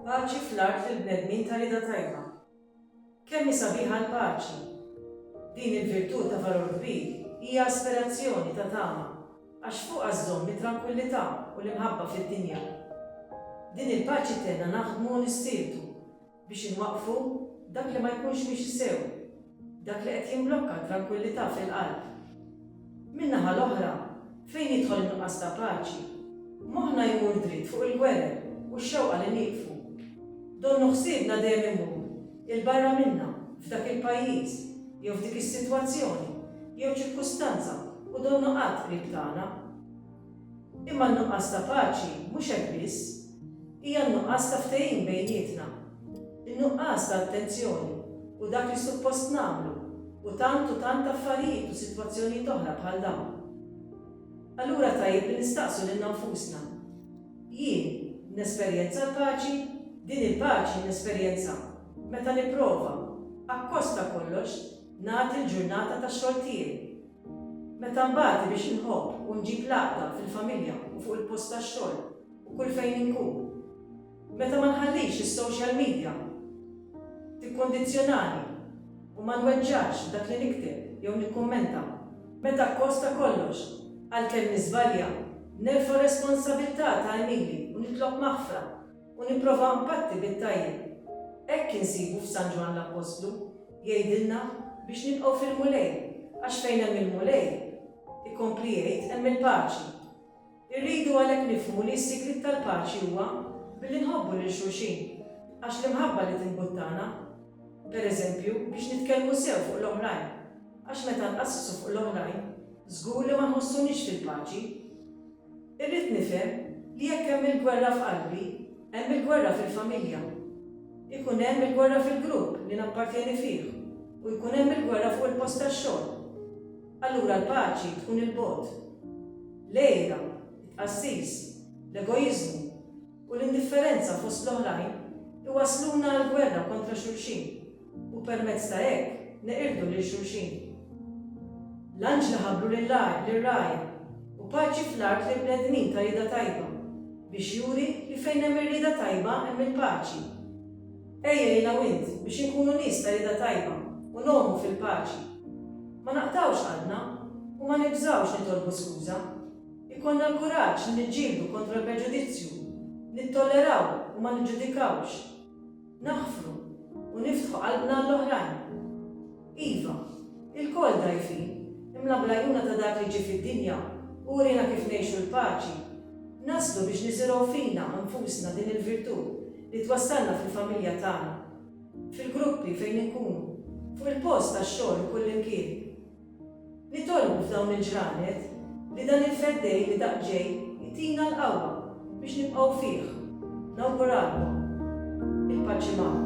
Paċi fl-art lill-bnedmin ta' rieda tajba. Kemm hi sabiħa l-paċi! Din il-virtù ta' valur kbir hija aspirazzjoni ta' tama għax fuqha żżomm it-trankwillità u l-imħabba fid-dinja. Din il-paċi tgħinna naħdmu u nistiebtu. biex inwaqqfu dak li ma jkunx miexi sew, dak li qed jimblokka t-trankwillità fil-qalb. Min-naħa l-oħra, fejn jidħol in-nuqqas ta' paċi, moħħna jmur dritt fuq il-gwerer u x-xewqa li nieqfu. Donnu ħsiebna dejjem imur 'il barra minna, f'dak il-pajjiż, jew f'dik is-sitwazzjoni, jew ċirkustanza u donnu qatt qrib tagħna. Imma n-nuqqas ta' paċi mhux hekk biss. Hija n-nuqqas ta' ftehim bejnietna. In-nuqqas ta' attenzjoni u dak li suppost nagħmlu u tant u tant affarijiet u sitwazzjonijiet oħra bħal dawn. Allura tajjeb li nistaqsu lilna nfusna, Jien nesperjenza l-paċi? Din il-paċi nesperjenzha meta nipprova, akkost ta' kollox, nagħti l-ġurnata tax-xogħol tiegħi, Meta nbati biex inħobb u nġib l-għaqda fil-familja u fuq il-post tax-xogħol u kull fejn inkun. Meta ma nħallix is-social media tikkondizzjonani u ma nweġġax dak li nikteb jew nikkummenta. Meta akkost ta' kollox, għalkemm niżbalja, nerfa' r-responsabilità ta' Emily u nitlob maħfra. U nipprova npatti bit-tajjeb. Hekk insibu f'San Ġwann l-Appostlu, jgħidilna biex nibqgħu fil-Mulej, għax fejn hemm il-Mulej, ikompli jgħid, hemm il-paċi. Irridu għalhekk nifhmu li s-sigriet tal-paċi huwa billi nħobbu lil xulxin, għax l-imħabba li timbuttana, pereżempju, biex nitkellmu sew fuq l-oħrajn, għax meta nqasssu fuq l-oħrajn, żgur li ma nħossuniex fil-paċi. Irrid nifhem li jekk hemm il-gwerra f'qalbi, hemm il-gwerra fil-familja. Ikun hemm il-gwerra fil-grupp li nappartjeni fih u jkun hemm il-gwerra fuq il-post tax-xogħol. Allura l-paċi tkun 'il bogħod. L-għira, it-tqassis, l-egoiżmu, u l-indifferenza fost l-oħrajn iwassluna għall-gwerra kontra xulxin. u permezz ta' hekk neqirdu lil xulxin. L-anġli ħabbru lir-ragħaj, U paċi fl-art lill-bnedmin ta' rieda tajba, biex juri li fejn hemm ir-rieda tajba hemm il-paċi. Ejja jien hawn int biex inkunu nies ta' rieda tajba u ngħumu fil-paċi. Ma naqtgħux qalbna u ma nibżgħux nitolbu skuża. Ikollna l-kuraġġ li niġġieldu kontra l-preġudizzju, nittolleraw u ma niġġudikawx. Naħfru u niftħu qalbna għall-oħrajn. Iva, ilkoll dgħajfin, imla bl-għajnuna ta' Dak li ġie fid-dinja u uriena kif ngħixu l-paċi, naslu biex niżirgħu fina nfusna din il-virtù li twassalna fil-familja tagħna, fil-gruppi fejn inkunu, fuq il-post tax-xogħol u kullimkien. Nitolbu f'dawn il-ġranet li dan il-Feddej li daqq ġej itina l-qawwa biex nibqgħu fih. Nawguralkom. Il-paċi magħkom.